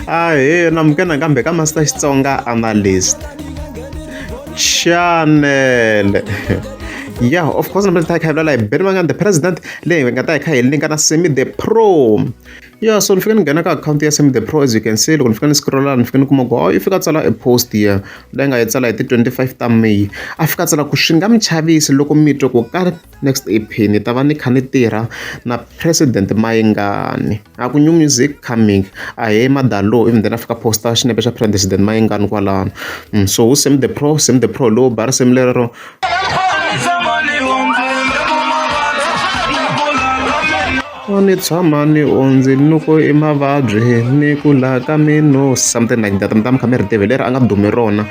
ahee namukena kambe ka masita xitsonga analyst chanele yeah of course namhlanje ta hi khayivula layi beni vangani the president leyi hi nga ta hi kha hi linka na semi the pro yeah so ni fike ni nghena ka akhawunti ya semi the pro as you can see loko ni fika ni scrolla ni fike ni kuma ku oh, i fika tsala e post ya leyi nga yi tsala hi ti-25 ta may a fika tsala ku swi nga mi chavisi loko mi twa ku ka next ep ni ta va ni kha ni tirha na president mayingani a ku new music coming a he madalo even then a fika posta xinepe xa president mayengani kwalano mm, so wu same the pro same the pro low bar same lero ni tshama ni ondzi ni ku i mavabyi ni ku laha ka mino something like that mi ta mi kha mi ri tive leri a nga dumi rona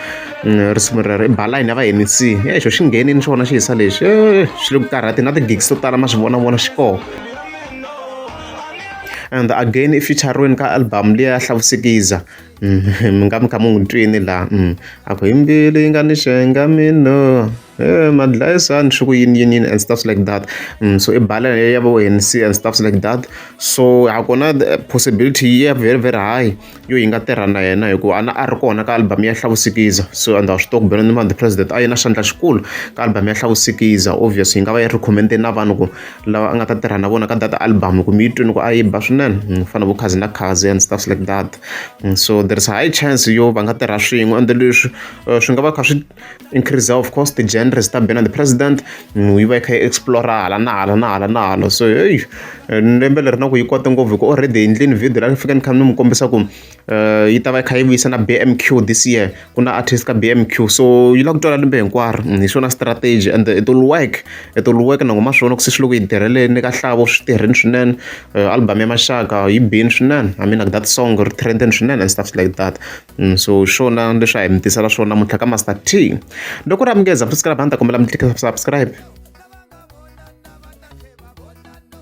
Mm, risimu rero i balayini ya va nec e xo xi nghenini xona xi hisa lexi eh, swi le ku karhati na ti-gigs to tala ma swi vona vona xi kona and again i featuring ka album leyi ya hlavusikiza mi nga mi kha mi n'wi twini laha a ku hi mbilu yi nga ni xenga mino madlayisani swi ku yini yini yini and stuff like that so i bala ya vo Hennessy and stuff like that so ha kona possibility yi ya very very high. yo yi nga tirha na yena hikuva a na a ri kona ka album ya hlavusikiza so and swi tiva ku Benoni Mandi president a yi na xandla xikulu ka album ya hlavusikiza obvious yi nga va yi recommende na vanhu ku lava a nga ta tirha na vona ka data album ku mi yi twini ku a yi ba swinene mm, fana vo khazi na khazi and stuff like that mm, so there is a high chance yo va nga tirha swin'we ende leswi eh, swi nga va kha swi increase of course the genders ta bena the president mm, yi va yi kha yi explora hala na hala na hala na hala so hey eh, lembe leri na ku yi kota ngopfu hi ku already hi ndleni video la ni fika ni kha ni mi kombisa ku eh, yi ta va yi kha yi vuyisa na bmq this year ku na artist ka bmq so yi la ku twala lembe hinkwaro mm, hi swona strategy and it will work it will work nango ma swona ku se swi loko yi tirheleni ka hlavo swi tirheni swinene eh, album ya maxaka yi bini swinene i mean like that song ri trendeni swinene and stuff like that so hi swona leswi a hi mi tisela swona namuntlha ka master t loko ri amukeza futhi sikalabani ta kombela mi subscribe